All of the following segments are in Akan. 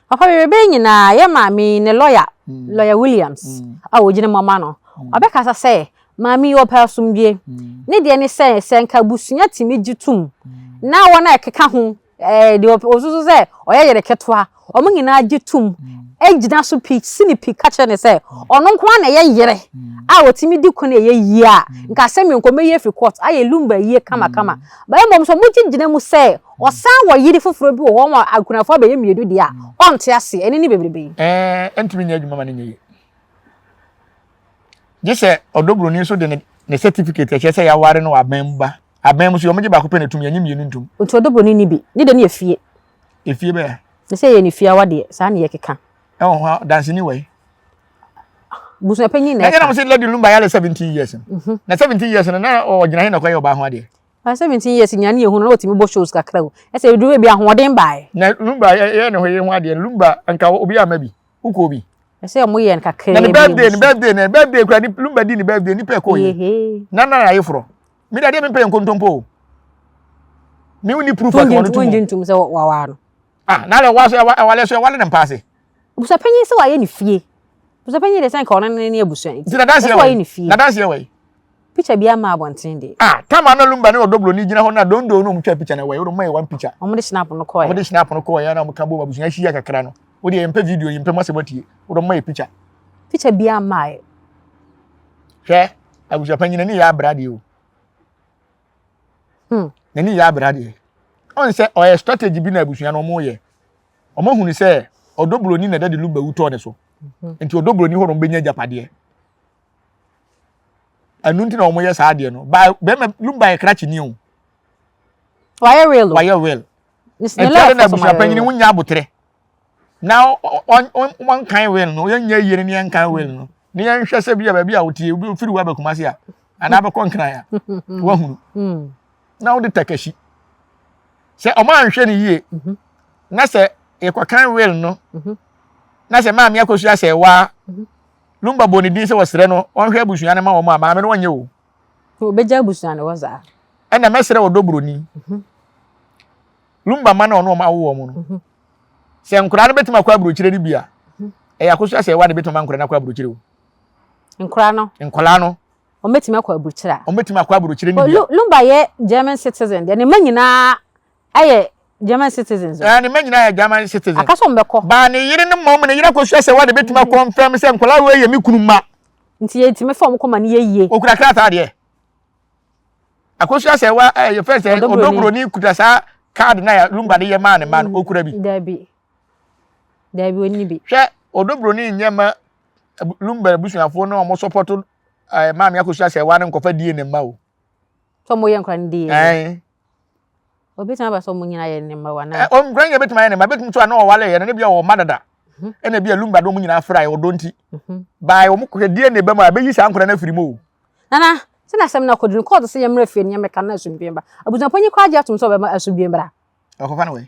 Papa bebree bɛyɛ nyinaa yɛ maame yi ne lɔya, mm. lɔya Williams mm. a wɔgyina mu ama no. Mm. Ɔbɛkasa sɛ maame yi ɔpɛ asomdwe. Ne deɛ ne sɛ sɛ nka abusua tumi gye tom na wɔn a ɛkeka ho ɛɛ eh, deɛ ɔsoso sɛ ɔyɛ yɛrɛ ketewa wɔn nyinaa gye tom gyina so pii si ne pii ka kyerɛ ne sɛ ɔno nko ara na ɛyɛ yere a wɔtumi di ko na ɛyɛ yie a nka asɛm yɛ nkɔmɛ yie fi court ayɛ lumba yie kamakama bɛyɛ mmom so wɔn gyina mu sɛ Wɔsan wɔ yere foforɔ bi wɔ hɔ ma akunafoɔ abɛyɛ mmienu deɛ a, ɔnte aseɛ, ɛno ne bebrebe yi. Ɛɛ, ɛntumi nyɛ adwuma ma no nyɛ yie. Gye sɛ ɔdɔ buroni nso de ne ne certificate a ɛkyerɛ sɛ yɛaware no wɔ aban mu ba. Aban mu so yɛ, wɔgye baako pɛ na ɛtom, yɛnnye mmienu ntom. Nti ɔdɔ buroni nni bi. Ne deɛ no yɛ fie. Efie bɛyɛ a? Ne sɛ ɛyɛ ne fie awa deɛ, saa na yɛkeka. Ɛwɔ hɔ a, danseni wɔ he? Abusuapanyin na ɛka. Na ɛyɛ na mo se Lady Lumba yare seventeen years no. Na seventeen years no, na ɔgyina he na ɔkɔyɛ ɔbaa ho adeɛ? By seventeen years nea ne yɛ hu no na watumi bɔ shows kakra o ɛsɛ edu baabi ahoɔden bae. Na lumba yɛ yɛ ne ho yɛ ho adeɛ lumba nka obi ama bi wokɔ bi. Ɛsɛ ɔmo yɛ no kakra bi. Na ne birthday ne birthday ne birthday kura ne lumba di ne birthday nipa ɛkɔ yɛ na na ayɛ forɔ mi de adeɛ mi mpɛ yɛ nkontompo o mi ni proof akɔnɔ tumu. Wonyi ntum sɛ wawaa no. Ah na lɛ wa so ɛwale so ɛwale ne mpaase. Busuapanyin sɛ wayɛ ne fie. Busuapanyin deɛ sɛ nka ɔno ne ne abusua nti. Nti nadanseɛ wɔ yi. Nadanseɛ wɔ yi. Picture bi ama abɔnten deɛ. Ah, tam ana lumba ne ɔdɔ broni gyina hɔ na dondo no ɔmo twa picture na wɔ yi. Ɔmo yɛ one picture. Ɔmo de snap no kɔɛ. Ɔmo de snap no kɔɛ na ɔmo ka bom abusua ahyia kakra no. Wo deɛ yɛmpɛ video yɛmpɛ mo asɛm atie. Wo de ɔmo yɛ picture. Picture bi ama ayɛ. Hwɛ, abusuapanyin n'ani yɛ abra deɛ o. Hmm. N'ani yɛ abra deɛ. Ɔn sɛ ɔyɛ strategy bi na abusua no ɔmo yɛ. ɔma hunu sɛ ɔdɔ buroni na dade luba wu tɔɔ ne so mhm. nti ɔdɔ buroni hɔ na ɔbɛnya agyapadeɛ ɛno nti na wɔyɛ saa adeɛ no ba bɛrima luba yɛ krakye ni o wayɛ wheel wayɛ wheel nti ɛno na abusua panyin ho nya abotrɛ na wɔnkan wheel no yɛnyɛ yie no ne yɛnkan wheel no ne yɛnhwɛ sɛ bi a baabi a wotie obi ofiri wa bɛkuma se a anaa bɛkɔ nkran a wahunu mm. na wode takahyi sɛ ɔmo anhwɛ no yie mhm. na sɛ yɛkɔkan will no mhm. na sɛ maame akɔsu asɛ waa mhm. lumba bɔ ne din sɛ wɔsrɛ no ɔnhwɛ abusua no ma wɔn a maame no ɔnyɛ o. obɛgya abusua no hɔ saa. ɛna mɛsrɛ ɔdɔ buroni lumba ma na ɔno ɔmo awo wɔn no sɛ nkoraa no bɛtumi akɔ aburokyire no bi a ɛyɛ akɔsu asɛ waa na ɛbɛtumi ma nkoraa no akɔ aburokyire o. nkoraa no. nkoraa no. wɔbɛtumi akɔ aburukyerɛ a. Wɔbɛtumi akɔ aburukyerɛ no bia. Lumba yɛ German citizen deɛ, ne mma nyinaa yɛ German citizens o. Ɛɛ ne mma nyinaa yɛ German citizens. Aka sɛ wɔbɛkɔ. Baa ne yere no mmom, ne yere akɔsua sɛ wɔde bɛtumi akɔ mfɛm sɛ nkwadaa wei yɛ me kunu mma. Nti yɛtumi fa wɔn kɔ ma no yɛ yie. Ɔkura krataa deɛ. Akɔsua sɛ wa ɛɛ yɛfɛ sɛ ɔdɔburoni kuta saa kaadi na Lumba de yɛ maa ne mma no, ɔkura bi. Daabi. Daabi ɔnni bi. Hwɛ ɔdɔburoni nyɛ ma Lumba abusuafoɔ no a wɔsɔpɔto ɛɛ maame akosua sɛ ɛwa no nkɔfa DNA mma o. sɛ ɔmo yɛ nkora no DNA. ɛn. obetumi aba sɛ ɔmo nyinaa yɛ ne mma wa na. ɔmo nkora nyinaa betumi ayɛ ne mma betumi so a na ɔwale yɛ no ne bi a ɔwɔ mma dada mhm. ɛna bi a lumba de ɔmo nyinaa fira yɛ ɔdɔ nti mhm. baa ɔmo kɔkɛ DNA bɛm a ɛbɛyi saa nkora no afiri mu o. nana sɛ na asɛm na akɔduru kɔɔto sɛ yɛmmerɛ fie ne yɛmmɛka na asomdwee ba abusuapɔ nyi kɔ agye atom sɛ ɔbɛma asomdwee mmra ɔkɔfa no wɛ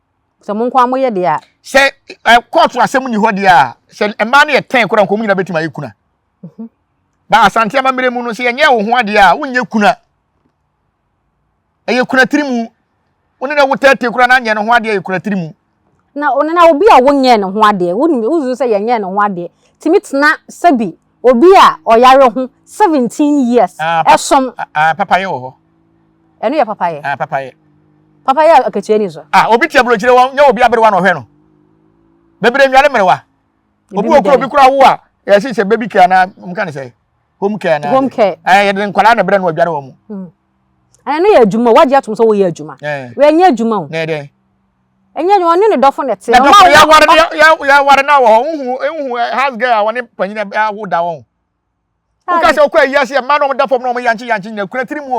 Sɛ mo nko ara moyɛ deɛ a. Sɛ kɔɔto eh, asɛm nni hɔ deɛ a, sɛ mmaa no yɛ tɛn koraa nka wɔn nyinaa bɛtumi ayɛ kuna. Mhm. Ba asante amammerɛ mu no sɛ yɛnyɛ wo ho adeɛ a wonyɛ kuna. Ɛyɛ kuna tiri mu. Wo ne na wo tɛɛtee koraa na anyɛ ne ho adeɛ ɛyɛ kuna tiri mu. Na na obi a wonyɛ ne ho adeɛ wonim wozu sɛ yɛnyɛ ne ho adeɛ tumi tena sɛbi Obi a ɔyare ho seventeen years ɛsom. Aah papayɛ wɔ hɔ. Ɛno yɛ papayɛ. Aah papayɛ. Papayɛ a akatua ni so. Ah obi te aburokyire wɔn nyɛ obi aberewa na ɔhwɛ no. Bebree nware mmerewa. Obi wɔ kura obi kura wo a yɛsi sɛ baby care na wɔn ka ne sɛ home care na. Home care. Ɛɛ yɛde nkwadaa na brɛ no adware wɔn. Ɛno yɛ adwuma wɔagye atom sɛ wɔyɛ adwuma. Wɔnyɛ adwuma o. Na ɛdɛ. ɛnyɛ adwuma ɔne ne dɔfo na ɛte. na dɔfo yɛ aware no yɛ aware no wɔ hɔ nhu nhu house girl a wɔne panyin awo da wɔn. woka sɛ wokɔ ayi ase mmaa na wɔn da fam na wɔn yankye yankye nyina kura tiri mu o.